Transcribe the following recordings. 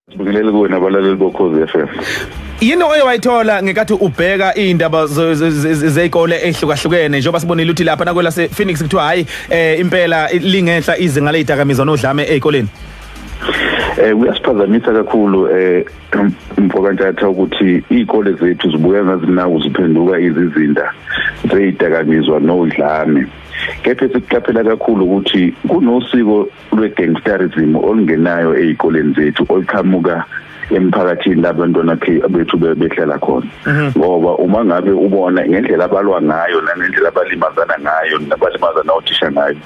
Ngibingelele kuwe nabalaleli bokhozi FM. Yini oye wayithola ngekathi ubheka izindaba zeikole ehlukahlukene njengoba sibonile ukuthi lapha nakwela se Phoenix kuthiwa hayi eh impela lingenhla izinga lezidakamizwa nodlame ezikoleni. Eh uyasiphazamisa kakhulu eh mfokantatha ukuthi izikole zethu zibuya ngazinawo ziphenduka izizinda zezidakamizwa nodlame. Kepha sikuqaphela kakhulu ukuthi kunosiko lwe-gangsterism olungenayo ezikoleni zethu oluqhamuka emphakathini labantwana bethu behlala khona mhm. ngoba uma ngabe ubona ngendlela abalwa ngayo nangendlela abalimazana ngayo nabalimazana othisha ngayo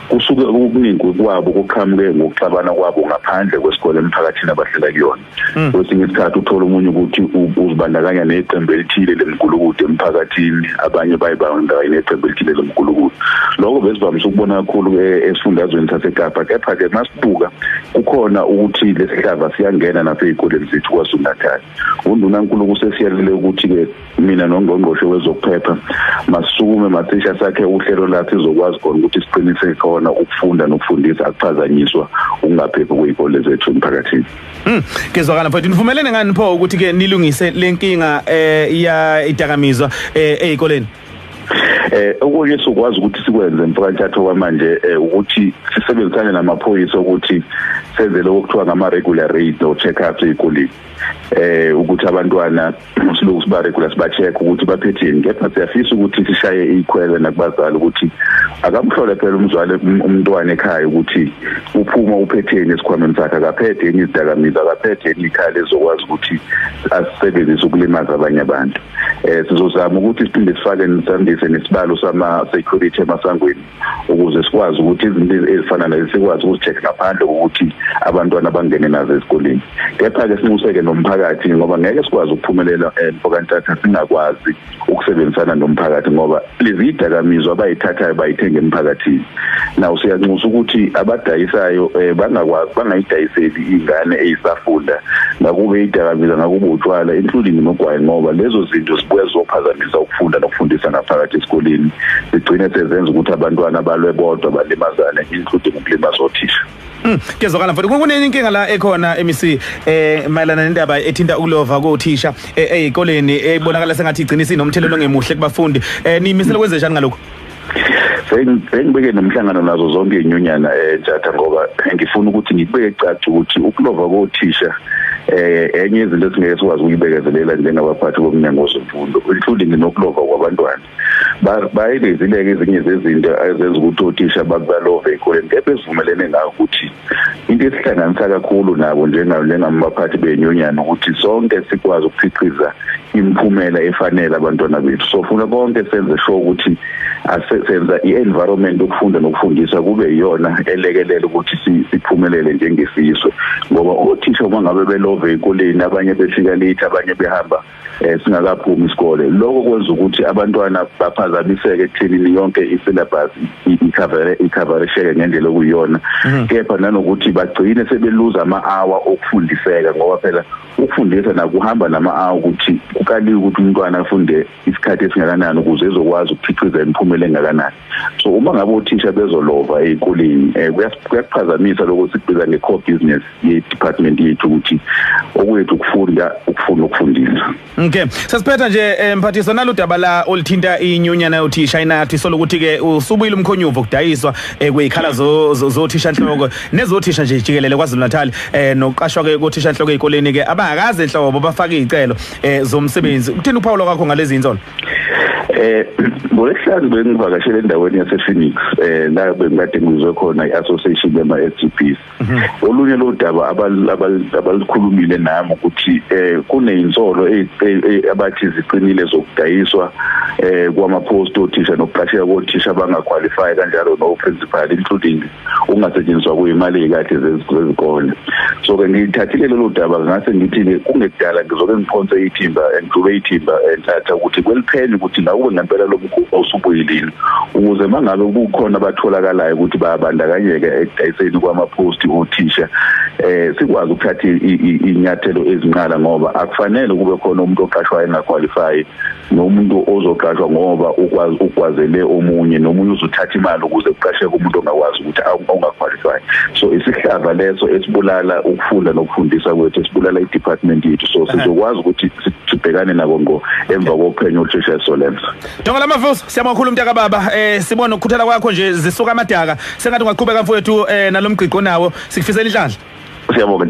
kusuke okuningi kwabo kuqhamuke ngokuxabana kwabo ngaphandle kwesikole emphakathini abahlala kuyona hmm. kwesinye isikhathi uthola omunye ukuthi uzibandakanya neqembu elithile lemgulukudu emphakathini abanye bayibandakanye neqembu elithile lemgulukudu lokho besivamise ukubona kakhulu e, esifundazweni sasekapa kepha-ke masibuka kukhona ukuthi lesihlava siyangena nasey'koleni zethu kwazulu-natal undunankuluku sesiyalele ukuthi-ke mina nongqongqoshe wezokuphepha masukume mathisha sakhe uhlelo lathi izokwazi khona ukuthi siqinise khona ukufunda nokufundisa akuphazanyiswa ukungaphephi kwey'kole zethu emphakathini Mm, kezwakala mfowethu nivumelene ngani pho ukuthi ke nilungise lenkinga eh ya idakamizwa eh ezikoleni eh okunye sokwazi ukuthi sikwenze mfakanthatho kwamanje eh, ukuthi sisebenzisane namaphoyisa ukuthi senze lokho kuthiwa ngama regular raid no check ups ezikoleni eh ukuthi abantwana usilungu sibaregula siba-check ukuthi baphetheni kepha siyafisa ukuthi sishaye iyikhwele nakubazali ukuthi akamhlole phela umzwale um, umntwana ekhaya ukuthi uphuma uphetheni esikhwameni sakhe akaphethe yini izidakamizwa akaphethe yini ikhaya lezokwazi ukuthi asisebenzise ukulimaza abanye abantu um sizozama ukuthi siphinde sifake nisandise nesibalo sama-security emasangweni ukuze sikwazi ukuthi izinto ezifana lezi sikwazi ukuzicheck ngaphandle kokuthi abantwana bangene nazo esikoleni kepha-ke sinxuseke nomphakathi ngoba ngeke sikwazi ukuphumelela eh, mfokantatha singakwazi ukusebenzisana nomphakathi ngoba lezi yidakamizwa abayithathayo bayithenga emphakathini naw siyanxusa ukuthi abadayisayo eh, bangakwazi bangayidayiseli iy'ngane eyisafunda ngakube idakamizwa ngakube utshwala including nogwayi ngoba lezo zinto zibuya zizophazamisa ukufunda nokufundisa ngaphakathi esikoleni zigcine sezenza ukuthi abantwana balwe bodwa balimazane including ukulimaza othisha Hmm, kuyezwakala mfowethu kunenye inkinga la ekhona MEC eh mayelana nendaba ethinta ukulova kothisha eh, ezikoleni ebonakala sengathi igcina isinomthelelo ongemuhle kubafundi eh nimisela kwenze njani ngalokho sengibeke nomhlangano nazo zonke izinyunyana entshatha eh, ngoba ngifuna ukuthi ngibeke caca ukuthi ukulova kothisha eh enye izinto esingeke sikwazi ukuyibekezelela njengabaphathi bomnyango wezemfundo including nokulova kwabantwana bayibezile-ke ezinye zezinto ezenza ukuthi othisha bakubalove ekoleni kepha esivumelene ngayo ukuthi into esihlanganisa kakhulu nabo njengamabaphathi benyunyana ukuthi sonke sikwazi ukukhiqiza imiphumela efanele abantwana bethu so funa konke senze sho ukuthi senza i-environment ukufunda nokufundisa kube yiyona elekelela ukuthi siphumelele njengesizwe ngoba othisha uma ngabe belove ekoleni abanye befika late abanye behamba eh singakaphumi isikole lokho kwenza ukuthi abantwana baphazamiseke ekuthenini yonke i-syllabus ikhavere ikhaveresheke ngendlela okuyiyona mhm. kepha nanokuthi bagcine sebeluza ama-hour okufundiseka ngoba phela ukufundisa nakuhamba nama-hour ukuthi kukaliwe ukuthi umntwana afunde isikhathi esingakanani ukuze ezokwazi ukukhiqiza imiphumela engakanani so uma ngabe othisha bezolova ezikoleni eh, kuyakuphazamisa lokho sikubiza nge-core business ye-department yethu ukuthi okwethu ukufunda ukufuna ukufundisa okay sesiphetha nje eh, mphathiswa nalo daba la olithinta inyunyana yothisha inathi sola ukuthi-ke usubuyile umkhonyuvo kudayiswa eh, kwey'khala zothishanhloko nezothisha nje jikelele kwazulu-natali um nokuqashwa-ke kothishanhloko ey'koleni-ke abangakaze nhlobo bafake iy'celo um zomsebenzi kuthini ukuphawula kwakho ngalezi nsolo Eh ngolesihlanu bengivakashele endaweni yasePhoenix eh la bengikade ngizwe khona iAssociation yama SGBs. Mhm. Olunye lo daba abalikhulumile nami ukuthi eh kunezinsolo e, e, e, abathi ziqinile zokudayiswa eh kwama post othisha nokuqasheka kothisha abangaqualify kanjalo no principal including ungasetshenziswa kuyimali yekahle zezikole so ke ngithathile lolu daba ngase ngithi ke kungekudala ngizoke ngiphonse ithimba ngidlube ithimba enthatha ukuthi kweliphele ukuthi ngakube ngempela lo mkhuba usubuyilile ukuze mangabe kukhona abatholakalayo ukuthi bayabandakanyeka ekudayiseni kwama-post othisha eh sikwazi ukuthatha inyathelo ezinqala ngoba akufanele kube khona umuntu oqashwayo engaqualify nomuntu ozoqashwa ngoba ukwazi ukwazele omunye nomunye uzothatha imali ukuze kuqasheke umuntu ongakwazi ukuthi ongaqualify so isihlava leso esibulala ukufunda nokufundisa kwethu esibulala i-department yethu so sizokwazi ukuthi sibhekane nako ngo emva kophenyo olushesha esolenza Donga lamavuso siyabonga kakhulu mntaka baba eh sibona ukukhuthala kwakho nje zisuka amadaka sengathi ungaqhubeka mfowethu eh nalomgqiqo nawo sikufisela inhlanhla Siyabonga